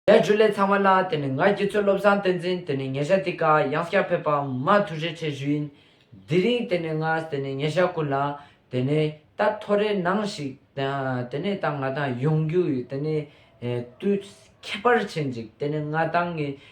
ལས་བཅུ་ལས་ཚང་བ་ལ་དེ་ནི་ང་ཁྱེད་ཚོའི་བློ་བཟང་བསྟན་འཛིན་དེ་ནི་ཉེ་ཞག་འདི་ཀ་གཡང་སྐྱག་ཕེབས་པ་མ་ཐུག་རེ་ཆེ་ཞུ་ཡིན་དེ་རིང་དེ་ནི་ང་དེ་ནི་ཉེ་ཞག་ཀུན་ལ་དེ་ནི་ད་ཐོ་རེ་ནང་ཞིག་དེ་ནི་ད་ང་དང་ཡོང་རྒྱུ་ཡི་དེ་ནི་དུས་ཁྱད་པར་ཆེ་འཇིག་དེ་ནི་ང་དང་ངའི།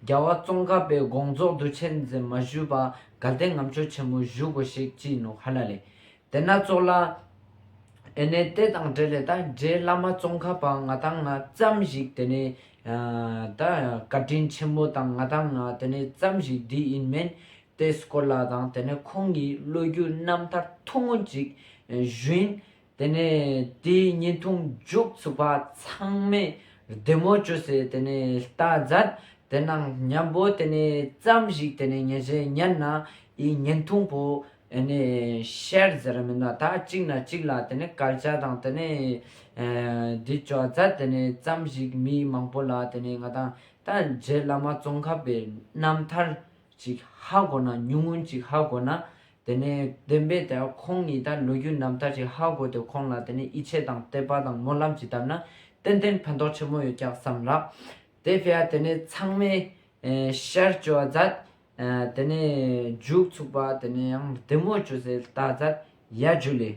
རྒྱལ་བ་ཙོང་ཁ་པའི་དགོངས་རྫོགས་འདུ་བྱེད་འཛིན་མ་ཞུས་པ་དགའ་ལྡན་ངམ་ཆོས་ཆེན་མོ་བཞུགས་དགོས་ཤིག་ཅི་ནུ་ཧ་ལ་ལེ། དེ་ན་ཙོག་ལ། ཨེ་ནས་དེ་དང་འབྲེལ་ལས་ད་རྗེས་བླ་མ་ཙོང་ཁ་པ་ང་དང་ང་ཙམ་ཞིག་དེ་ནས་ད་བཀའ་དྲིན་ཆེན་པོ་དང་ང་དང་ང་དེ་ནས་ཙམ་ཞིག་འདི་ཡིན་མིན་དེ་སྐོར་ལ་དང་དེ་ནས་ཁོང་གི་བློ་རྒྱུད་རྣམ་ཐར་ཐུང་ངུ་ཅིག་བཞུན་དེ་ནས་དེའི་བརྙན་ཐུང་མཇུག་བཙུགས་པ་ཚང་མས་བདེ་མོ་བྱོས་ཟེར་དེ་ནས་ལྟ་མཛད་དེ་ན་སྙམ་པོ་དེ་ནས་བརྩམས་ཤིག་དེ་ནས་ཉེ་ཆའི་ཉིན་ན་ཡི་བརྙན་ཐུང་པོ་ནས་ཤེར་ཟེར་མི་ན་ད་གཅིག་ན་གཅིག་ལ་དེ་ནས་སྐལ་ཆ་དང་དེ་ནས་འདི་བྱོ་མཛད་དེ་ནས་བརྩམས་ཤིག་མི་མང་པོ་ལ་དེ་ནས་ང་དང་ད་རྗེ་བླ་མ་ཙོང་ཁ་པའི་རྣམ་ཐར་ཅིག་ཧ་གོ་ན་ཉུང་ངུ་ཅིག་ཧ་གོ་ན་དེ་ནས་བདེན་པའི་དེ་ཁོང་ཉིད་དང་ལོ་རྒྱུས་རྣམ་ཐར་གྱི་ཧ་གོ་དེ་ཁོང་ལ་དེ་ནས་ཡིད་ཆེས་དང་དད་པ་དང་སྨོན་ལམ་གྱིས་བཏབ་ན་ཏན་ཏན་ཕན་ཐོགས་ཆེན་པོ་ཡོད་ཀྱང་བསམ་ལགས། དེ་བས་དེ་ནས་ཚང་མས་ཤར་བསྐྱོད་བ་མཛད། དེ་ནས་རྒྱུགས་ཚུགས་པ་དེ་ནས་ཡང་བདེ་མོ་བསྐྱོད་ཚེ་རྟ་མཛད་ཡལ་རྒྱུ་ལས།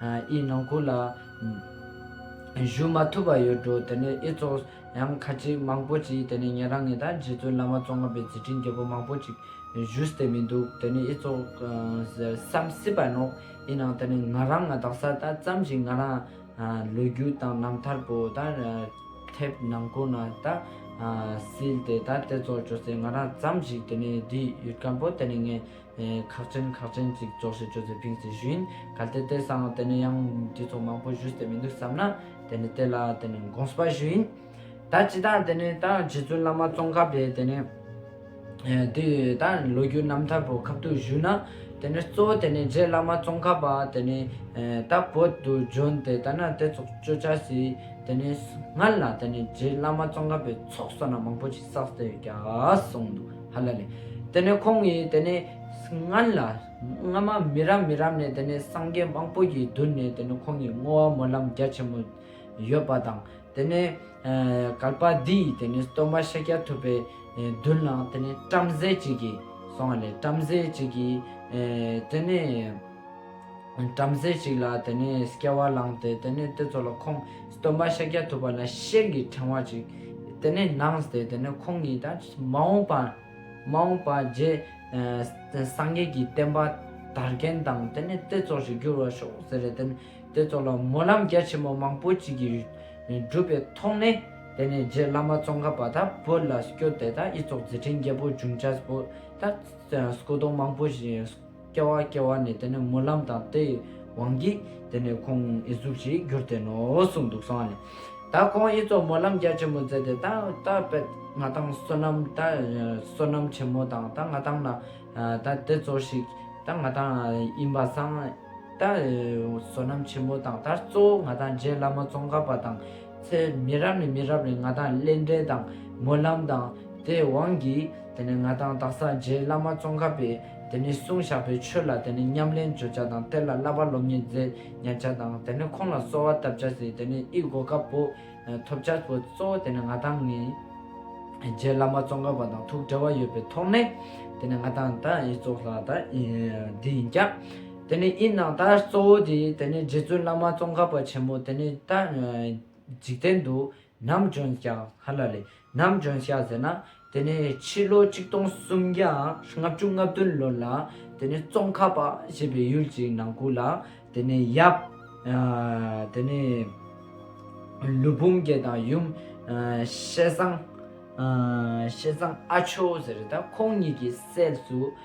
ཨི་ནང་ཁུལ་ལ་བཞུགས་མ་ཐུབ་པ་ཡོད་འགྲོ་དེ་ནས་ཨི་ཚོགས་ཡང་ཁ་ཅིག་མང་པོ་ཅིག་དེ་ནས་ཉེ་རང་ངེ་དང་རྗེ་བཙུན་བླ་མ་བཙོང་ང་པའི་རྗེས་དྲིན་རྒྱལ་པོ་མང་པོ་ཅིག་བཞུགས་སྟེ་མི་འདུག་དེ་ནས་ཨི་ཚོགས་སམ་སྲིད་པ་ནོག་ཨི་ནང་དེ་ནས་ང་རང་ང་དག་ས་ད་ཙམ་ཞིག་ང་རང་ལོ་རྒྱུས་དང་རྣམ་ཐར་པོ་ད་ཐེབས་ནང་ཁུལ་ན་ད་སྲིད་དེ་ད་དེ་ཚོགས་ཅོ་སེ་ང་རང་ཙམ་ཞིག་དེ་ནས་འདི་ཡུལ་དཀར་པོ་དེ་ནས་ངས། ཁག་ཅན་ཁག་ཅན་ཅིག་རྫོགས་ཤིག་ཅོ་ཙེ་ཕིང་སི་བཞིན་གལ་ཏེ་གཏེར་གསང་བ་དེ་ནི་ཡང་དུས་ཚོད་མང་པོ་བཞུགས་ཏེ་མི་འདུག་བསམ་ན་དེ་ནི་གཏེར་ལ་དེ་ནི་དགོངས་པ་ཞིག་ཡིན། ད་ཅི་ད་དེ་ནི་ད་རྗེ་བཙུན་བླ་མ་ཙོང་ཁ་པས་དེ་ནི་དུས་ད་ལོ་རྒྱུས་རྣམ་ཐར་བོད་ཁབ་ཏུ་བཞུགས་ན་དེ་ནི་གཙོ་བོ་དེ་ནི་རྗེ་བླ་མ་ཙོང་ཁ་པ་དེ་ནི་ད་བོད་དུ་བྱོན་ཏེ་ད་ན་དེ་ཚོགས་སྤྱོད་བྱ་སྲིད་དེ་ནི་སྔར་ལ་དེ་ནི་རྗེ་བླ་མ་ཙོང་ཁ་པའི་ཚོགས་བསོད་ནམས་མང་པོ་ཅིག་བསགས་ཟེར་གྱ་གསུངས་འདུག། ཧ་ལ་ལས། དེ་ནས་ཁོང་གིས་དེ་ནས་སྔོན་ལ། སྔོན་མ་མི་རབས་མི་རབས་ནས་དེ་ནས་སངས་རྒྱས་མང་པོ་ཡི་མདུན་ནས་དེ་ནས་ཁོང་གིས་བསྔོ་བ་སྨོན་ལམ་རྒྱ་ཆེན་མོ་ཡོད་པ་དང། དེ་ནས་གར་པ་འདི་ཡིས་དེ་ནས་སྟོན་པ་ཤཱཀྱ་ཐུབ་པའི་མདུན་ལ་དེ་ནས་བྲམ་ཟེ་གཅིག་གིས་སོང་བ་ལས་བྲམ་ཟེ་གཅིག་གིས་དེ་ནས། བྲམ་ཟེ་ཞིག་ལ་དེ་ནས་སྐྱེ་བ་བླངས་ཏེ་དེ་ནས་དེ་ཚོ་ལ་ཁོང་སྟོན་པ་ཤཱཀྱ་ཐུབ་པ་ལ་ཤེལ་གྱི་ཕྲེང་བ་ཅིག་དེ་ནས་གནང་སྟེ་དེ་ནས་ཁོང་གིས་ད་མ་འོངས་པ་མ་འོངས་པ་རྗེས་སངས་རྒྱས་ཀྱི་བསྟན་པ་དར་མཁན་དང་དེ་ནས་དེ་ཚོ་ཞིག་འགྱུར་བར་ཤོག་ཟེར་རེ་དེ་ནས་དེ་ཚོ་ལ་སྨོན་ལམ་རྒྱ་ཆེན་པོ་མང་པོ་ཅིག་གིས་བསྒྲུབས་པའི་ཐོག་ནས་དེ་ནས་རྗེ་བླ་མ་ཙོང་ཁ་པ་དང་བོད་ལ་བསྐྱོད་དེ་ད་ཨི་ཚོགས་རྗེ་དྲིན་རྒྱལ་པོ་འབྱུང་བྱ་པོ་དང་སྐུ་གདུང་མང་པོ་ཞིག་སྐྱེ་བ་སྐྱེ་བ་ནི་དེ་ནི་སྨོན་ལམ་དང་དེའི་དབང་གིས་དེ་ནི་ཁོང་ཨི་གཟུགས་ཤིག་གྱུར་ཏེ་ནོ་གསུངས་འདུག་གསང་བ་ལས། ད་ཁོང་ཨི་ཚོགས་སྨོན་ལམ་རྒྱ་ཆེན་མོ་མཛད་དེ་ད་ད་པད་ང་ཐང་བསོད་ནམས་ད་བསོད་ནམས་ཆེན་མོ་དང་ད་ང་ཐང་ན་ད་དེ་གཙོ་ཞིག་ད་ང་ཐང་དབྱིན་པ་སངས་ད་བསོད་ནམས་ཆེན་མོ་དང་ད་གཙོ་བོ་ང་ཐང་རྗེ་བླ་མ་ཙོང་ཁ་པ་དང་ཚེ་མི་རབས་ནས་མི་རབས་ནས་ང་ཐང་སླེ་འབྲེལ་དང་སྨོན་ལམ་དང་དེའི་དབང་གིས་དེ་ནི་ང་ཐང་དྭགས་ས་རྗེ་བླ་མ་ཙོང་ཁ་པའི། དེ་ནས་གསུང་བཤགས་པའི་ཆོས་ལ་དེ་ནས་ཉམས་ལེན་བརྗོད་བྱ་དང་གཏེར་ལ་བསླབ་པ་སློབ་གཉེར་མཛད་ཉར་བྱ་དང་དེ་ནས་ཁོང་ལ་གསོལ་བ་བཏབ་བྱ་ཟེར་དེ་ནས་དབྱི་སྒོ་དཀར་པོ། ཐོབ་བྱ་བོ་གཙོ་བོ་དེ་ནས་ང་དང་ངའི། རྗེ་བླ་མ་ཙོང་ཁ་པ་དང་ཐུགས་འབྲེལ་བ་ཡོད་པའི་ཐོག་ནས། དེ་ནས་ང་དང་དང་དབྱི་གཙོ་ལྷ་དང་དབྱི་ཡིན་ཀྱང། དེ་ནས་དབྱི་ནང་དང་གཙོ་བོ་དེ་དེ་ནས་རྗེ་བཙུན་བླ་མ་ཙོང་ཁ་པ་ཆེན་མོ་དེ་ནས་དང། འཇིག་རྟེན་དུ་ནམ་རྒྱུན་བྱ། ཧ་ལ་ལས། ནམ་རྒྱུན་བྱ་ཟེར་ན། དེ་ནི་ཕྱི་ལོ་ཆིག་སྟོང་སུམ་བརྒྱ་ལྔ་བཅུ་ལྔ་བདུན་ལོར་ལ་དེ་ནི་ཙོང་ཁ་པ་ཞེས་པའི་ཡུལ་གྱི་ནང་ཁུལ་ལ་དེ་ནི་ཡབ། དེ་ནི་ལུས་བུམ་རྒྱལ་དང་ཡུམ། བཤད་བཟང། བཤད་བཟང་ཨ་ཆོས་ཟེར་རེད་ད་ཁོང་གཉིས་ཀྱི་སྲས་སུ།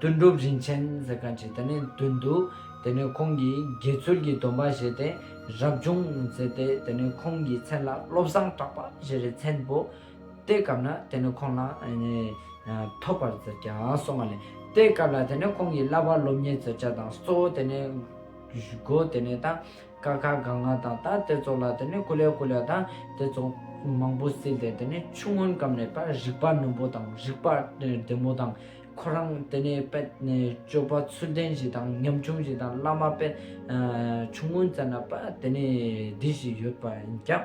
དོན་གྲུབ་རིན་ཆེན་ཟེར་ག་ཅིག་དེ་ནས་དོན་འདུག་དེ་ནས་ཁོང་གིས་དགེ་ཚུལ་གྱི་སྡོམ་པ་བཞེས་ཏེ་རབ་བྱུང་ཟེར་ཏེ་དེ་ནས་ཁོང་གི་མཚན་ལ་བློ་བཟང་གྲགས་པ་ཞེས་རེ་མཚན་བོ། དེའི་སྐབས་ན་དེ་ནས་ཁོང་ལ་ཐོབ་པར་ཟེར་གྱ་སོང་བ་ལས་དེའི་སྐབས་ལ་དེ་ནས་ཁོང་གི་བསླབ་པ་སློབ་གཉེར་བརྩོད་བྱ་དང་གཙོ་བོ་དེ་ནས་སྒོ་དེ་ནས་དང། ཀ་ཁ་ག་ང་དང་ད་དེ་ཚོ་ལ་དེ་ནི་ཀུ་ལེ་ཀུ་ལེ་དང་དེ་ཚོ་མང་པོ་བསྲེས་ཏེ་དེ་ནི་ཆུ་སྔོན་སྐམ་ནས་པར་རིག་པ་རྣོན་པོ་དང་རིག་པ་བདེ་མོ་དང་ཁོ་རང་དེ་ནི་དཔལ་སྤྱོད་པ་ཚུལ་ལྡན་ཞིག་དང་ཉམ་ཆུང་ཞིག་དང་བླ་མ་དཔལ་ཆུ་སྔོན་བཙལ་ན་པ་དེ་ནི་བདེ་ཞིག་ཡོད་པ་ཡིན་ཀྱང།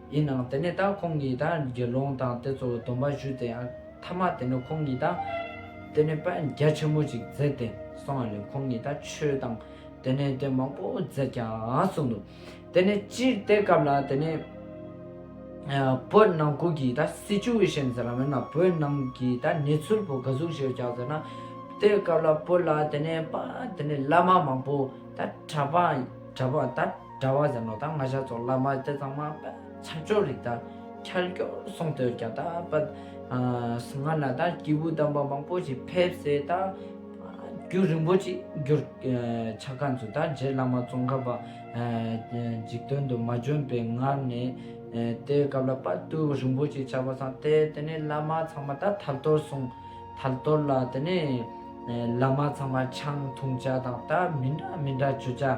ཡིན་ནའང་དེ་ནས་ད་ཁོང་གིས་ད་དགེ་སློང་དང་དེ་ཚོར་སྡོམ་པ་ཞུས་ཏེ་མཐའ་མ་དེ་ནས་ཁོང་གིས་ད་དེ་ནས་པད་རྒྱ་ཆེན་མོ་ཅིག་མཛད་དེ་སོང་བ་ལས་ཁོང་གིས་ད་ཆོས་དང་དེ་ནས་དེ་མང་པོ་མཛད་ཀྱང་གསུངས་འདུག་དེ་ནས་སྤྱིར་དེ་སྐབས་ལ་དེ་ནས་བོད་ནང་ཁུལ་གྱི་ད Situation ཟེར་བ་མེད་ན་བོད་ནང་གི་ད་གནས་ཚུལ་བོ་ག་གཟུགས་ཞེས་བྱ་ཟེར་ན་དེ་སྐབས་ལ་བོད་ལ་དེ་ནས་པད་དེ་ནས་བླ་མ་མང་པོ་ད་གྲྭ་པ་གྲྭ་པ་ད། གྲྭ་བ་ཟེར་ནོ་ད་སྔ་ཤར་ཕྱོགས་བླ་མ་སྟེ་གཙང་མ་ཆབ་ཆོས་རིག་དང་ཁྱར་ཁྱོར་སོང་དུས་རྒྱ་དག་པ་སྔ་ན་ད་སྐྱེས་བུ་དམ་པ་མང་པོ་ཞིག་ཕེབས་སའི་ད་རྒྱུད་རིང་པོ་ཅིག་གྱུར་ཆ་ཁ་མཆུ་ད་རྗེ་བླ་མ་ཙོང་ཁ་པ་འཇིག་དོན་དུ་མ་བྱོན་པའི་སྔར་ནས་དེའི་སྐབས་ལ་པར་དུ་རིང་པོ་ཅིག་ཆགས་པ་སང་དེ་དེ་ནས་བླ་མ་ཚང་མ་ད་ཐར་ཐོར་སོང་ཐར་ཐོར་ལ་དེ་ནས་བླ་མ་ཚང་མ་ཆང་འཐུང་བྱ་དང་ད་མི་འདྲ་མི་འདྲ་བྱོས་བྱ།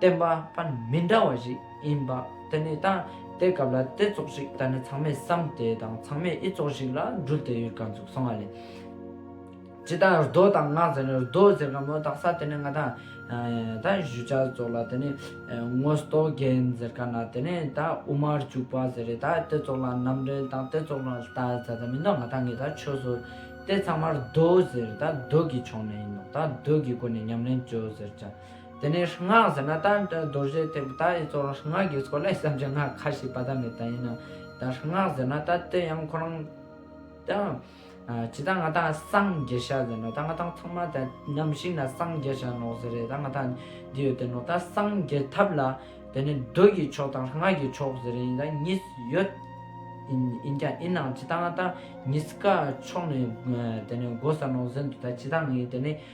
བསྟན་པ་པ་མི་འདྲ་བ་ཞིག་ཡིན་པ་དེ་ནི་ད་ལྟའི་སྐབས་ལ་དེ་ཙོག་ཞིག་ད་ནི་ཚང་མས་བསམ་སྟེ་དང་ཚང་མས་ཨི་ཙོག་ཞིག་ལ་འགྲུལ་བསྡད་ཡོད་ག་འདུག་སོང་བ་ལས། ཇི་ལྟར་རྡོ་དང་ནགས་ཟེར་ནས་རྡོ་ཟེར་ག་མོ་དག་ས་དེ་ནི་ང་ད་གཞུ་ཆ་ཙོག་ལ་དེ་ནི་ངོ་ཟློག་རྒན་ཟེར་ག་ན་དེ་ནི་ད་དབུ་མར་བཅུག་པ་ཟེར་རེད་ད་དེ་ཙོག་ལ་རྣམ་རེལ་དང་དེ་ཙོག་ལ་ད་ད་ད་མི་འདུག་ང་ད་ངས་ད་ཆོས་བཟོ་དེ་ཚང་མར་རྡོ་ཟེར་ད་རྡོ་གི་ཕྱོགས་ནས་ཡིན་ནོ་ད་རྡོ་གི་སྒོ་ནས་ཉམས་ལེན་བྱོས་ཟེར་བྱ། དེ་ནས་སྔགས་ཟེར་ན་ད་རྡོ་རྗེ་ཐེག་པ་དག་ཡིན་གཙོ་རང་སྔགས་ཀྱི་སྐོར་ལ་བསམ་བྱ་སྔགས་ཁ་ཞིག་བ་ད་མེད་ད་ཡིན་ད་སྔགས་ཟེར་ན་ད་དེ་ཡང་ཁོ་རང་ད་ཇི་ད་ང་ད་སངས་རྒྱས་ཤ་ཟེར་ན་ད་ང་ད་ཚང་མ་ད་ནམ་ཞིག་ན་སངས་རྒྱས་ཤ་ནོག་ཟེར་རེད་ད་ང་ད་འདི་ཡོད་དེ་ནོག་ད་སངས་རྒྱས་ཐབས་ལ་དེ་ནས་རྡོ་ཡི་ཆོག་དང་སྔགས་ཀྱི་ཆོག་ཟེར་རེད་ཡིན་ད་གཉིས་ཡོད་ཡིན་ཀྱང་ཡིན་ནང་ཇི་ད་ང་ད་གཉིས་ཀ་ཕྱོགས་ནས་དེ་ནས་འགོ་ས་ནོག་ཟེར་འདུག་ད་ཇི་ད་ངས་དེ་ནས།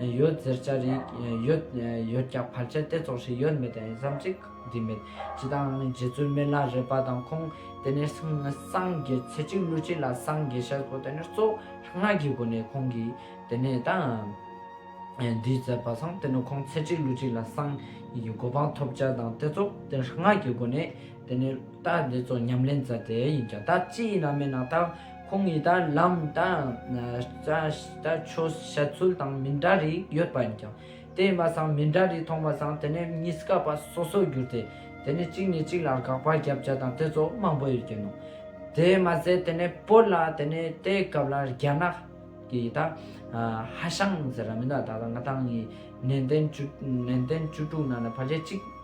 ཡོད་ཟེར་བྱ་རིག་ཡོད་ཡོད་ཀྱང་བར་ཆད་དེ་ཙོག་ཞིག་ཡོད་མེད་དང་ཟམ་ཅིག་འདི་མེད་ཇི་ལྟའང་རྗེ་བཙུན་སྨན་བླ་རེད་པ་དང་ཁོང་དེ་ནས་སངས་རྒྱས་ཚེ་གཅིག་ཀླུ་གཅིག་ལ་སངས་རྒྱས་ཤར་སྐོར་དེ་ནས་གཙོ་སྔགས་ཀྱི་སྒོ་ནས་ཁོང་གིས་དེ་ནས་ད་འདི་མཛད་པ་སངས་དེ་ནས་ཁོང་ཚེ་གཅིག་ཀླུ་གཅིག་ལ་སངས་རྒྱས་ཀྱི་གོ་འཕང་ཐོབ་བྱ་དང་དེ་ཙོག་དེ་ནས་སྔགས་ཀྱི་སྒོ་ནས་དེ་ནས་ད་འདི་ཙོག་ཉམས་ལེན་མཛད་དེ་ཡིན་ཀྱང་ད་ཅི་ཡིན་ན་མིན་ན་ད། ཁོང་གིས་ད་ལམ་ད་ལྟ་ཆོས་བཤད་ཚུལ་དང་མི་འདྲ་རིགས་ཡོད་པ་ཡིན་ཀྱང། དེ་ཡིན་པ་སང་མི་འདྲ་རིགས་མཐོང་པ་སང་དེ་ནས་གཉིས་ཀ་པ་སོ་སོར་གྱུར་ཏེ། དེ་ནས་གཅིག་ནས་གཅིག་ལ་དགག་པ་རྒྱབ་བརྒྱ་དང་དེ་ཚོ་མང་པོ་ཡོད་ཀྱི་འདུག་དེ་མ་ཟད་དེ་ནས་བོད་ལ་དེ་ནས་དེའི་སྐབས་ལ་རྒྱ་ནག་གི་ད་ཧ་ཤང་ཟེར་ར་མི་འདུག་ད་ལྟ་ང་ཐང་གིས་ནན་ཏན་བཅུ་དྲུག་ནང་ལ་བར་ཆད་གཅིག།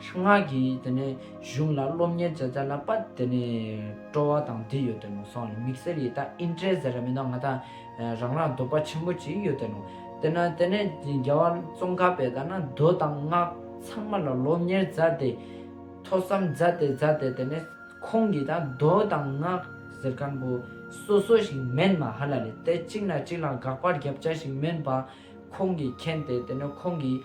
སྔགས་ཀྱི་དེ་ནས་གཞུང་ལ་སློབ་གཉེར་བྱས་ཚར་ལ་པད་དེ་ནས་སྤྲོ་བ་དང་འདི་ཡོད་དེ་ནོ་སང་ལ་མིག་སེར་ཡི་དྭགས་ཨིན་ཏྲེ་ཟེར་ར་མེད་ན་ང་ད་རང་རང་འདོད་པ་ཆེན་པོ་ཅིག་ཡོད་དེ་ནོ། དེ་ན་དེ་ནས་རྒྱལ་བ་ཙོང་ཁ་པས་ད་ན་མདོ་དང་སྔགས་ཚང་མ་ལ་སློབ་གཉེར་མཛའ་སྟེ། ཐོས་བསམ་མཛའ་སྟེ་མཛའ་སྟེ་དེ་ནས་ཁོང་གིས་ད་མདོ་དང་སྔགས་ཟེར་མཁན་པོ་སོ་སོ་ཞིག་མེད་མ་ཧ་ལ་ལས་དེ་གཅིག་ན་གཅིག་ལ་དགག་པར་རྒྱབ་བྱ་ཞིག་མིན་པ་ཁོང་གིས་མཁྱེན་ཏེ་དེ་ནས་ཁོང་གིས།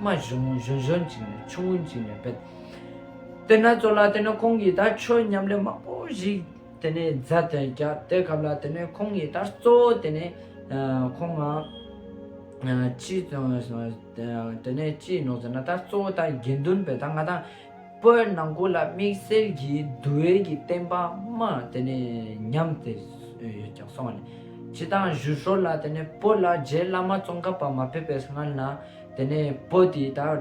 མ་གཞོན་གཞོན་གཞོན་གཅིག་ནས་ཆུང་ངུ་གཅིག་ནས་བེད་སྟེ་ན་ཙོ་ལ་དེ་ནས་ཁོང་གིས་ད་ཆོས་མཉམ་ལས་མང་པོ་ཞིག་དེ་ནས་མཛད་དེ་རྒྱ་དེ་སྐབས་ལ་དེ་ནས་ཁོང་གིས་ད་གཙོ་བོ་དེ་ནས་ཁོང་ང་ཅི་དེ་ནས་ཅི་ནོ་ཟེར་ན་ད་གཙོ་བོ་ད་དགེ་འདུན་པས་ད་ང་དང་པོའི་ནང་སྒོ་ལ་དམིགས་བསལ་གྱི་བསྡུ་བའི་གྱི་བསྟན་པ་མ་དེ་ནས་ཉམས་དེ་ཀྱང་སོང་བ་ནས། སྤྱི་དང་བཞུ་ཧྲོ་ལ་དེ་ནས་པོ་ལ་རྗེ་བླ་མ་ཙོང་ཁ་པ་མ་ཕེབས་པའི་སྔ་ན་དེ་ནས་པོ་དེ་དག་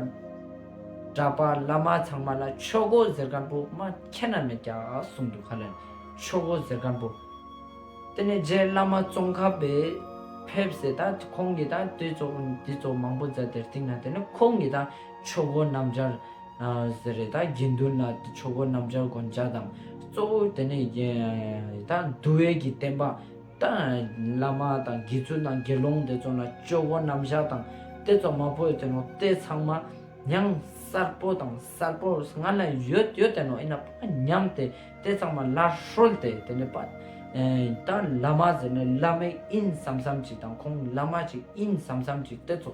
གྲགས་པ་བླ་མ་ཚང་མ་ལ་ཆོས་སྒོ་གཟེར་དཀར་པོ་མ་ཁྱེད་ན་མེད་ཀྱང་གསུངས་འདུག་ག་ལ་ནས་ཆོས་སྒོ་གཟེར་དཀར་པོ་དེ་ནས་རྗེ་བླ་མ་ཙོང་ཁ་པས་ཕེབས་ཟེར་ད་ཁོང་གི་དང་དེ་ཚོ་འདི་ཚོ་མང་པོ་མཛད་དེར་སྟེང་ན་དེ་ནས་ཁོང་གི་དང། ཆོ་གོ་སྣམ་སྦྱར། ཟེར། རེ་དྭགས་དགེ་འདུན་ལ་ཆོ་གོ་སྣམ་སྦྱར་དགོན་བཅའ་དང། གཙོ་བོ་དེ་ནས་རེ་དྭགས་འདུལ་བས་ཀྱི་བསྟན་པ། བླ་མ་དང་དགེ་ཚུལ་དང་དགེ་སློང་དེ་ཚོ་ལ་ཆོ་གོ་སྣམ་སྦྱར་དང། དེ་ཚོ་མ་བོས་དེ་ནོ་དེ་ཚང་མ། ཡང་གསར་པོ་དང་གསར་པོ་སྔར་ན་ཡོད་ཡོད་དེ་ནོ་ཨེ་ན་པ་ཉམས་ཏེ་དེ་ཚང་མ་སླར་ཧྲོལ་ཏེ་དེ་ནས་པ། ད་བླ་མ་ཟེར་ནས་བླ་མའི་དབྱིན་བསམ་བསམ་ཅིག་དང་ཁོང་བླ་མ་ཅིག་དབྱིན་བསམ་བསམ་ཅིག་དེ་ཚོ།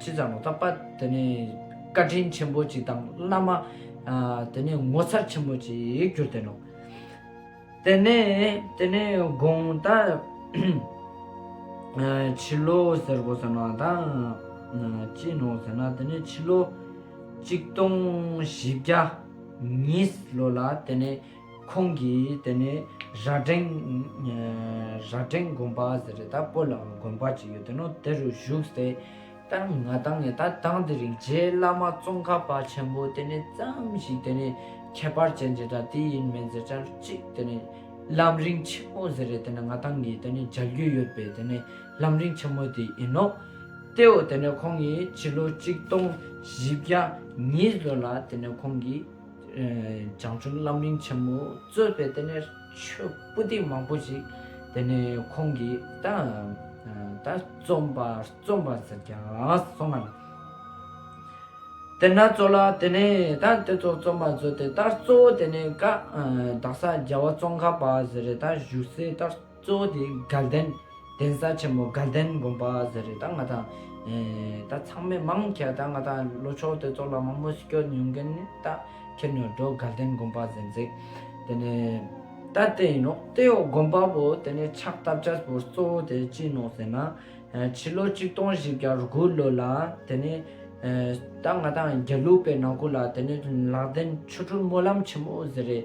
ཅི་ཙམ་བརྟག་པ་དེ་ནི་བཀའ་དྲིན་ཆེན་པོ་ཅིག་དང་བླ་མ་དེ་ནི་ངོ་མཚར་ཆེན་པོ་ཅིག་གྱུར་ཏེ་ནོ། དེ་ནས་དེ་ནི་དགོངས་ལྟ། ཕྱི་ལོ་ཟེར་གོ་ཟེར་ན་དང་ཅི་ནོ་ཟེར་ན་དེ་ནི་ཕྱི་ལོ་གཅིག་སྟོང་བཞི་བརྒྱ་ཉིས་ལོ་ལ་དེ་ནི། ཁོང་གིས་དེ་ནི་རྭ་སྒྲེང་དགོན་པ་ཟེར་རེད་ད་པོ་ལའང་དགོན་པ་གཅིག་ཡོད་དེ་ནོ་དེ་རུ་བཞུགས་ཟེར་ལྟར་ང་ལྟ་ངས་ལྟ་དང་དེ་རིང་རྗེ་བླ་མ་ཙོང་ཁ་པ་ཆེན་པོ་དེ་ནི་བརྩམས་ཤིག་དེ་ནི་ཁྱད་པར་ཅན་ཅེ་དྲག་དེ་ཡིན་མིན་ཟེར་ཆར་གཅིག་དེ་ནི་ལམ་རིང་ཆེན་མོ་ཟེར་རེད་དེ་ནི་ང་ལྟ་ངས་དེ་ནི་མཇལ་རྒྱུ་ཡོད་པའི་དེ་ནི་ལམ་རིང་ཆེན་མོ་དེ་ཡིན་ནོ་དེའོ་དེ་ནི་ཁོང་གིས་ཕྱི་ལོ་གཅིག་སྟོང་བཞི་བརྒྱ་ཉིས་ལོ་ལ་དེ་ནི་ཁོང་གིས། བྱང་ཆུབ་རྣམ་གླིང་ཆེན་མོ་གཙོས་པའི་དེ་ནས་ཆོས་པུ་སྟི་མང་པོ་ཞིག་དེ་ནས་ཁོང་གི་ད་ད་རྩོམ་པ་རྩོམ་པ་ཟེར་ཀྱང་སོང་ངམ། དེ་ན་ཙོ་ལ་དེ་ནས་ད་དེ་ཚོ་རྩོམ་པ་བཟོས་ཏེ་ད་གཙོ་བོ་དེ་ནས་ཀ་དག་ས་རྒྱ་བ་ཙོང་ཁ་པ་ཟེར་རེད་ད་བཞུགས་སའི་ད། གཙོ་བོ་དེ་དགའ་ལྡན་གདན་ས་ཆེན་མོ་དགའ་ལྡན་དགོན་པ་ཟེར་རེད་ད་ང་དང་ད་ཚང་མས་མང་ཁྱེད་ད་ང་དང་ལོ་ཆོག་དེ་ཚོགས་ལ་མང་མོས་སྐྱོན་ཡོང་མཁན་ནི་ད་ཁྱེད་ནོར་འགྲོ་དགའ་ལྡན་དགོན་པ་ཟེར་མཛད་དེ་ནས་ད་དེ་ཡིན་ནོ་དེ་ཡོག་དགོན་པ་པོ་དེ་ནས་ཕྱག་བཏབ་ཆ་པོར་གཙོ་བོ་དེ་ཅི་ནོ་ཟེར་ན་ཕྱི་ལོ་གཅིག་སྟོང་བཞི་བརྒྱ་དགུ་ལོ་ལ་དེ་ནས་ད་ང་དང་རྒྱ་ལུགས་པའི་ནང་ཁུལ་ལ་དེ་ནས་ལག་ལྡན་ཆོས་གྲུབ་སྨོན་ལམ་ཆེན་མོ་ཟེར་རེད།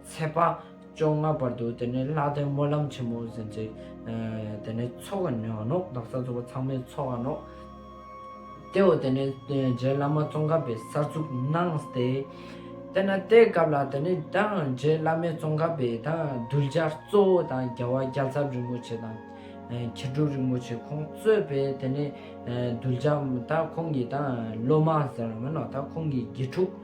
ཚེས་པ་བཅོ་ལྔ་བར་དུ་དེ་ནས་ལྷག་དོན་སྨོན་ལམ་ཆེན་མོ་ཟིན་ཅིག། དེ་ནས་ཚོགས་ཀྱི་ཉོག་ནོག་བདག་ས་ཚོགས་པ་ཚང་མས་ཚོགས་ཀྱི་ནོག། དེའོ་དེ་ནས་རྗེ་བླ་མ་ཙོང་ཁ་པའི་སར་ཚུགས་གནང་སྟེ། དེ་ནས་དེའི་སྐབས་ལ་དེ་ནས་དང་རྗེ་བླ་མའི་ཙོང་ཁ་པའི་དང་གདུལ་བྱ་གཙོ་བོ་དང་རྒྱལ་བ་རྒྱལ་ཚབ་རིན་པོ་ཆེ་དང་མཁས་གྲུབ་རིན་པོ་ཆེ་ཁོང་གཙོས་པའི་དེ་ནས་གདུལ་བྱ་དང་ཁོང་གི་དང་སློབ་མ་ཟེར་བ་མིན་ནོ་དང་ཁོང་གི་དགེ་ཕྲུག།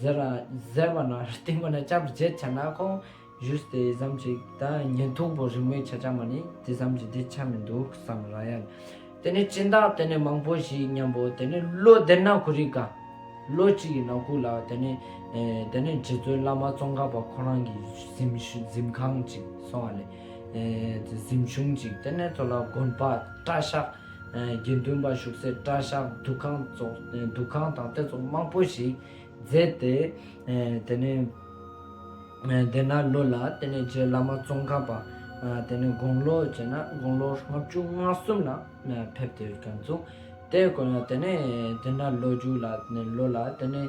ཟེར་བ་ན་སྟེང་པ་ན་བཅའ་བར་བྱེད་བྱ་ན་ཁོང་བཞུགས་དེ་བསམ་ཅིག་ད་ཉིན་སྟུག་པོ་རིང་མོའི་ཆ་ཆ་མ་ནི་དེ་བསམ་ཅིག་འདི་ཆ་མི་འདུག་བསམ་ར་ཡ། དེ་ནི་སྤྱིན་བདག་དེ་ནི་མང་པོ་ཞིག་སྙམ་པོ་དེ་ནི་བློ་བདེར་ན་གུ་རི་ཀ། བློ་གཅིག་གིས་ན་སྐུ་ལ་དེ་ནི་དེ་ནི་རྗེ་བཙུན་བླ་མ་ཙོང་ཁ་པ་ཁོ་རང་གི་གཟིམ་ཁང་ཅིག་སོང་བ་ལས་གཟིམ་ཆུང་ཅིག་དེ་ནས་ཚོ་ལ་དགོན་པ་བཀྲ་ཤག་དགེ་འདུན་པ་བཞུགས་སའི་བཀྲ་ཤག་འདུ་ཁང་འདུ་ཁང་དང་དེ་ཚོ་མང་པོ་ཞིག་མཛད་དེ། དེ་ནས་སྡེ་ནར་ལོ་ལ་དེ་ནས་རྗེ་བླ་མ་ཙོང་ཁ་པ་དེ་ནས་དགུང་ལོ་བྱས་ན་དགུང་ལོ་ལྔ་བཅུ་ང་གསུམ་ལ་ཕེབས་ཏེ་བཀའ་བཙུགས། དེ་དེ་ནས་སྡེ་ནར་ལོ་རྒྱུ་ལ་ལོ་ལ་དེ་ནས་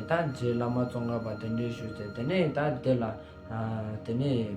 ད་རྗེ་བླ་མ་ཙོང་ཁ་པ་དེ་འདྲས་བཞུགས་ཚེ་དེ་ནས་ད་དེ་ལ་དེ་ནས།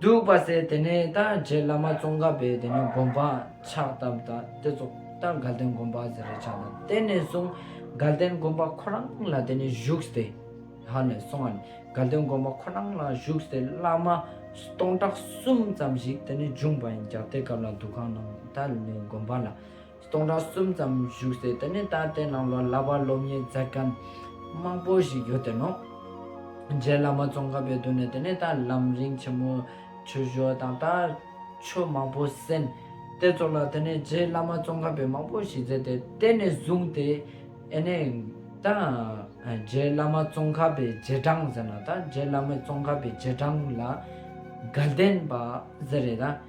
འདུག་པ་ཟེར་དེ་ནས་ད་རྗེས་བླ་མ་ཙོང་ཁ་པས་དེ་ནས་དགོན་པ་ཕྱག་བཏབ་ད་དེ་རྫོགས་ད་དགའ་ལྡན་དགོན་པ་ཟེར་རེ་ཆགས་ད་དེ་ནས་བཟུང་དགའ་ལྡན་དགོན་པ་ཁོ་རང་ལ་དེ་ནས་བཞུགས་ཏེ་ཧ་ནས་སོང་ང་ནས་དགའ་ལྡན་དགོན་པ་ཁོ་རང་ལ་བཞུགས་ཏེ་བླ་མ་སྟོང་ཕྲག་གསུམ་ཙམ་ཞིག་དེ་ནས་བྱུང་བ་ཡིན་རྒྱ་དེ་སྐབས་ལ་འདུ་ཁང་ནང་ད་ལོའི་དགོན་པ་ལ་སྟོང་ཕྲག་གསུམ་ཙམ་བཞུགས་ཟེར་དེ་ནས་ད་ལྟའི་ནང་ལོ་ལ་བ་སློབ་གཉེར་མཛད་མཁན་མང་པོ་ཞིག་ཡོད་དེ་ནང་རྗེ་བླ་མ་ཙོང་ཁ་པའི་མདུན་ནས་དེ་ནས་ད་ལམ་རིང་ཆེན་མོ་ཆོས་ཞོར་དང་ད་ཆོས་མང་པོ་གསན། དེ་ཚོ་ལ་དེ་ནས་རྗེ་བླ་མ་ཙོང་ཁ་པས་མང་པོ་ཞིག་མཛད་དེ་དེ་ནས་བཟུང་སྟེ་ཨེ་ནས་ད་རྗེ་བླ་མ་ཙོང་ཁ་པའི་རྗེས་འབྲང་ཟེར་ན་ད་རྗེ་བླ་མ་ཙོང་ཁ་པའི་རྗེས་འབྲང་ལ་དགའ་ལྡན་པ་ཟེར་རེད་ད།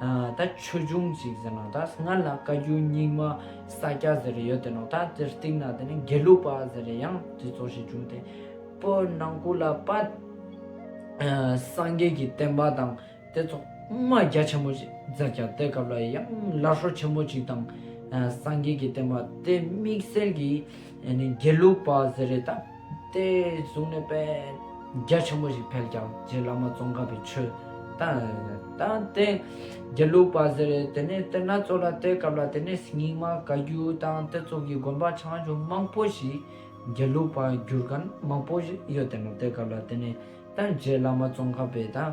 ད་ཆོས་འབྱུང་ཞིག་ཟེར་ནང་ད་སྔར་ལ་བཀའ་རྒྱུད་རྙིང་མ་ས་སྐྱ་ཟེར་རེ་ཡོད་དེ་ནང་ད་དེར་གཏིག་ན་དེ་ནི་དགེ་ལུགས་པ་ཟེར་རེ་ཡང་དེ་ཚོ་ཞིག་འབྱུང་སྟེ། པོ་ནང་ཁུལ་ལ་པ། སངས་རྒྱས་ཀྱི་བསྟན་པ་དང་དེ་ཚོ་དབུ་མ་རྒྱ་ཆེན་པོ་ཞིག་ཟེར་ཀྱང་དེ་སྐབས་ལ་ཡང་སླར་ཧྲོ་ཆེན་པོ་ཅིག་དང། སངས་རྒྱས་ཀྱི་བསྟན་པ་དེ་དམིགས་བསལ་གྱིས་དགེ་ལུགས་པ་ཟེར་རེ་ད། དེ་བཟུང་ནས་དཔེ་རྒྱ་ཆེན་པོ་ཞིག་ཕེབས་ཀྱང་རྗེ་བླ་མ་ཙོང་ཁ་པའི་ཆོས་བསྟན། དེ་རྒྱལ་ལུགས་པ་ཟེར། དེ་ནས་དེ་སྣ་ཚོགས་ལ་དེའི་སྐབས་ལ་དེ་ནས་སྙིགས་མ་བཀའ་བརྒྱུད་དང་དེ་ཚོགས་ཀྱི་དགོན་པ་ཆང་ཆུང་མང་པོ་ཞིག་རྒྱལ་ལུགས་པ་བརྒྱུད་མཁན་མང་པོ་ཡོད་དེ་ནས་དེའི་སྐབས་ལ་དེ་ནས་དང་རྗེ་བླ་མ་ཙོང་ཁ་པའི་དང།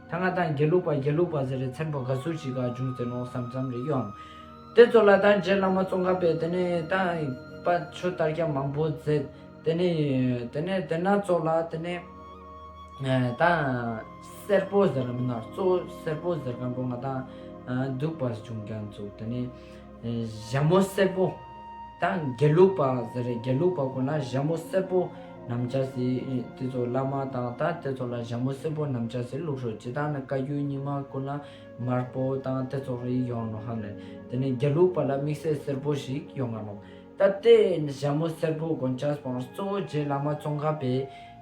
ད་ང་དང་དགེ་ལུགས་པ་དགེ་ལུགས་པ་ཟེར་རེ་ཚན་པོ་ག་ཟུར་ཞིག་ག་བྱུང་ཟེར་ནོ་བསམ་བསམ་རེ་གཡོ་འམ། དེ་ཚོ་ལ་དང་རྗེ་བླ་མ་ཙོང་ཁ་པས་དེ་ནས་ད་པ་ཆོས་དར་རྒྱ་མང་པོ་མཛད། དེ་ནས་དེ་ནས་དེ་སྣ་ཚོགས་ལ་དེ་ནས་ད་སེར་པོ་ཟེར་རམ་མིན་ནར་ཙོ་སེར་པོ་ཟེར་མཁན་པོ་ང་དང་འདུག་པར་བྱུང་ཀྱང་བཙུགས་དེ་ནས། ཞྭ་མོ་སེར་པོ་དང་དགེ་ལུགས་པ་ཟེར་རེད་དགེ་ལུགས་པ་དགོས་ན་ཞྭ་མོ་སེར་པོ་ནམ་བྱ་ཟེར་དེ་ཚོ་བླ་མ་དང་ད་དེ་ཚོ་ལ་ཞྭ་མོ་སེར་པོ་ནམ་བྱ་ཟེར་ལུགས་ཤོག་བྱེད་ད་ནི་བཀའ་རྒྱུད་རྙིང་མ་དགོས་ན་མར་པོ་དང་དེ་ཚོ་རེད་ཡོང་ནོ་ཧམ་ལེ་དེ་ནི་དགེ་ལུགས་པ་ལ་དམིགས་བསལ་སེར་པོ་ཞིག་ཡོང་ག་ནོ་ད་དེ་ཞྭ་མོ་སེར་པོ་དགོན་བྱ་སྤང་གཙོ་བོ་རྗེ་བླ་མ་ཙོང་ཁ་པའི་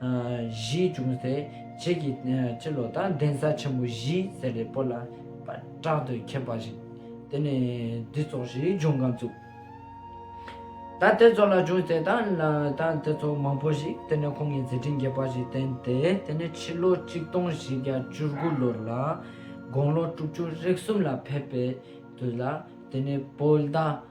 བཞིའི་ཅུང་ཟད་ཕྱེད་ཀྱི་སྤྱི་ལོ་དང་གདན་ས་ཆེན་པོ་བཞིའི་ཟེར་རེ་པོ་ལ་དྲག་ཏུ་མཁས་པ་ཞིག་དེ་ནས་འདི་ཚོགས་ཞེས་ལྗོངས་ཁང་བཙུགས། ད་དེ་ཚོ་ལ་ཅུང་ཟད་དང་དང་དེ་ཚོ་མང་པོ་ཞིག་དེ་ནས་ཁོང་གི་མཛད་འཕྲིན་རྒྱས་པ་ཞིག་བསྟན་ཏེ་དེ་ནས་ཕྱི་ལོ་གཅིག་སྟོང་བཞི་བརྒྱ་བཅུ་དགུ་ལོར་ལ་དགོང་ལོ་དྲུག་ཅུ་རེག་གསུམ་ལ་ཕེབས་པའི་དུས་ལ་དེ་ནས་བོད་ཟླ་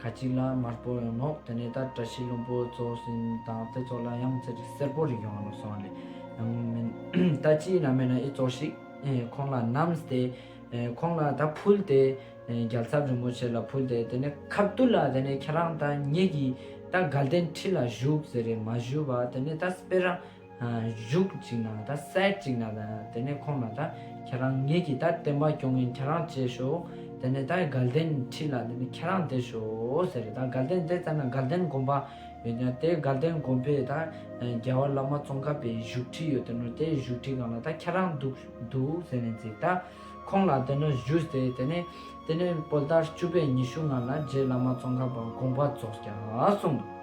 ཁ་ཅིག་ལ་དམར་པོ་ཡོང་ངོ། དེ་ནས་ད་བཀྲ་ཤིས་ལྷུན་པོ་རྫོགས་བཞིན་དང་དེ་ཚོ་ལ་ཡང་ཚེ་རིང་སེར་པོ་རིགས་ཡོང་ངོ་སོང་ལས་ཡང་མིན། ད་ཅིའི་ན་མེད་ན་ཨི་ཙོག་ཤིག། ཁོང་ལ་བསྣམས་ཏེ། ཁོང་ལ་ད་ཕུལ་ཏེ། རྒྱལ་ཚབ་རིན་པོ་ཆེ་ལ་ཕུལ་ཏེ་དེ་ནས་ཁ་བསྡུ་ལ་དེ་ནས་ཁྱེད་རང་ད་ངེད་ཀྱིས་ད་དགའ་ལྡན་ཁྲི་ལ་བཞུགས་ཟེར་རེ་མ་ཞུས་པ་དེ་ནས་ད་སྤེ་ར། གཞུག་ཅིག་ན་ད་སད་ཅིག་ན་ད་དེ་ནས་ཁོང་ལ་ད་ཁྱེད་རང་ངེད་ཀྱིས་ད་བསྟན་པ་སྐྱོང་མཁན་ཁྱེད་རང་བྱས་ཤོག་དེ་ནས་ད་དགའ་ལྡན་ཁྲི་ལ་དེ་ནས་ཁྱེད་རང་བསྡད་ཤོག་ཟེར་རེད་ད་དགའ་ལྡན་བསྡད་ཙམ་ན་དགའ་ལྡན་དགོན་པ་ཡོད་ཀྱང་དེ་དགའ་ལྡན་དགོན་པའི་ད་རྒྱལ་བ་བླ་མ་ཙོང་ཁ་པའི་བཞུགས་ཁྲི་ཡོད་དེ་ནོར་དེ་བཞུགས་ཁྲི་གང་ལ་ད་ཁྱེད་རང་འདུག་འདུག་ཟེར་ནས་ཅིག་ད་ཁོང་ལ་དེ་ནོར་བཞུགས་ཟེར་དེ་ནས་དེ་ནས་དཔོལ་ཟླར་བཅུ་པའི་ཉི་ཤུ་ལྔ་ལ་རྗེ་བླ་མ་ཙོང་ཁ་པ་དགོངས་པ་རྫོགས་རྒྱག་གསུངས།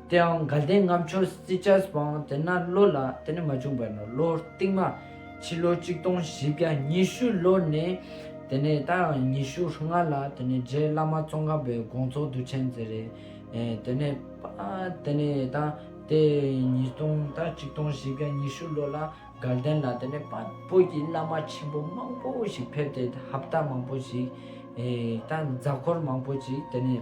དེའང་དགའ་ལྡན་ངམ་ཆོས་སྲིད་ཆར་སྤངས་དེ་ན་ལོ་ལ་དེ་ནས་མ་བྱུང་བར་ནོར་ལོ་རྟིང་མ་ཕྱི་ལོ་གཅིག་སྟོང་བཞི་བརྒྱ་ཉི་ཤུ་ལོ་ནས་དེ་ནས་ད་ཡང་ཉི་ཤུ་ལྔ་ལ་དེ་ནས་རྗེ་བླ་མ་ཙོང་ཁ་པའི་དགོངས་རྫོགས་བསྡུ་ཆེན་མཛད་རེ་དེ་ནས་དེ་ནས་ད་དེ་ཉིས་སྟོང་ད་གཅིག་སྟོང་བཞི་བརྒྱ་ཉི་ཤུ་ལོ་ལ་དགའ་ལྡན་ལ་དེ་ནས་བོད་ཀྱི་བླ་མ་ཆེན་པོ་མང་པོ་ཞིག་ཕེབས་ཏེ་ཧབ་ད་མང་པོ་ཞིག་ད་འཛག་འཁོར་མང་པོ་ཅིག་དེ་ནས།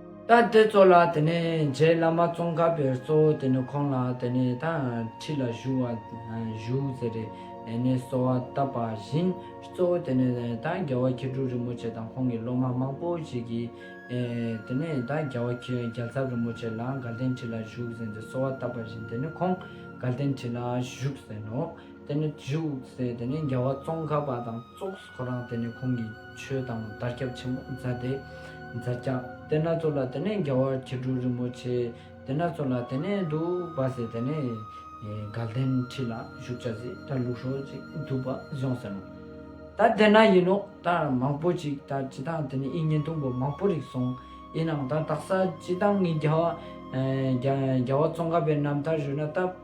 ད་དེ་ཚོ་ལ་དེ་ནས་རྗེ་བླ་མ་ཙོང་ཁ་པའི་གཙོ་བོ་དེ་ནས་ཁོང་ལ་དེ་ནས་ད་ཁྲི་ལ་བཞུགས་བ་བཞུགས་ཟེར་རེ་ནས་གསོལ་བ་བཏབ་པ་བཞིན་གཙོ་བོ་དེ་ནས་ད་རྒྱལ་བ་མཁས་གྲུབ་རིན་པོ་ཆེ་དང་ཁོང་གི་སློབ་མ་མང་པོ་ཞིག་གིས་དེ་ནས་ད་རྒྱལ་བ་རྒྱལ་ཚབ་རིན་པོ་ཆེ་ལ་དགའ་ལྡན་ཁྲི་ལ་བཞུགས་ཟེར་ནས་གསོལ་བ་བཏབ་པ་བཞིན་དེ་ནས་ཁོང་དགའ་ལྡན་ཁྲི་ལ་བཞུགས་ཟེར་ནོ། དེ་ནས་བཞུགས་ཟེར་དེ་ནས་རྒྱལ་བ་ཙོང་ཁ་པ་དང་གཙོ། ཁོ་རང་དེ་ནས་ཁོང་གིས་ཆོས་དང་བརྡར་ཁྱབ་ཆེན་མོ་མཛད་དེ། མཛད་བརྒྱ་དེ་སྣ་ཚོགས་ལ་དེ་ནས་རྒྱལ་བ་ཁྱི་ཕྲུག་རིན་པོ་ཆེ་དེ་སྣ་ཚོགས་ལ་དེ་ནས་འདུག་པ་ཟེར་དེ་ནས་དགའ་ལྡན་ཁྲི་ལ་བཞུགས་བྱ་ཟེར་ད་ལུགས་ཧྲོལ་ཅིག་འདུག་པ་བཟུང་ཟེར་ནོ། ད་དེ་ན་ཡིན་ནོ་ད་མང་པོ་ཅིག་ད་ཅི་ད་དེ་ནས་ཨི་ཉིན་དུམ་བུ་མང་པོ་རིག་སོང་ཡིན་ནའང་ད་དག་ས་ཅི་ད་ངའི་རྒྱལ་བ་རྒྱལ་བ་ཙོང་ཁ་པའི་རྣམ་ཐར་ཞུ་ན་ད།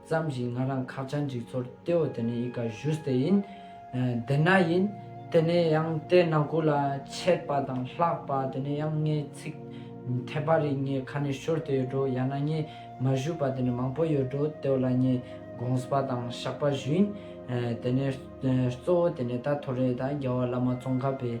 བརྩམས་བཞིན་ང་རང་ཁ་བྱང་འཇིག་ཚོར་ལྟེའོ་དེ་ནས་ཡིད་ཀ་བཞུས་ཏེ་ཡིན། དེ་ན་ཡིན། དེ་ནས་ཡང་ལྟས་ན་གུ་ལ་ཆད་པ་དང་ལྷགས་པ་དེ་ནས་ཡང་ངའི་ཚིག་འཐད་པ་རིགས་ངའི་ཁ་ནས་ཤོར་ཏེ་ཡོད་འགྲོ་ཡང་ན་ངས་མ་བཞུས་པ་དེ་ནས་མང་པོ་ཡོད་འགྲོ་ལྟེའོ་ལ་ངས་དགོངས་པ་དང་བཤགས་པ་བཞུས་ཡིན། དེ་ནས་གཙོ་བོ་དེ་ནས་ད་ཐོ་རེད་ད་རྒྱལ་བ་བླ་མ་ཙོང་ཁ་པའི།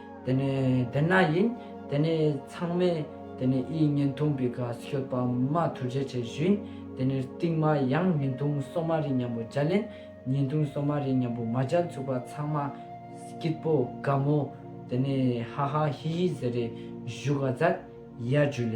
དེ་ནས་དེ་ན་ཡིན། དེ་ནས་ཚང་མས་དེ་ནས་ཨིའི་བརྙན་ཐུང་པི་ཁ་ཤོད་པ་མ་ཐུར་བྱེད་བྱེད་བཞིན་དེ་ནས་རྟིང་མ་ཡང་བརྙན་ཐུང་སོ་མ་རི་མཉམ་པོ་སྦྱར་ལན་བརྙན་ཐུང་སོ་མ་རི་མཉམ་པོ་མ་སྦྱར་ཚུགས་པ་ཚང་མ་སྐྱིད་པོ་དགའ་མོ་དེ་ནས་ཧ་ཧ་ཧི་ཧི་ཟེར་རེས་བཞུགས་ག་ཛར་ཡ་བྱུས་ལེ།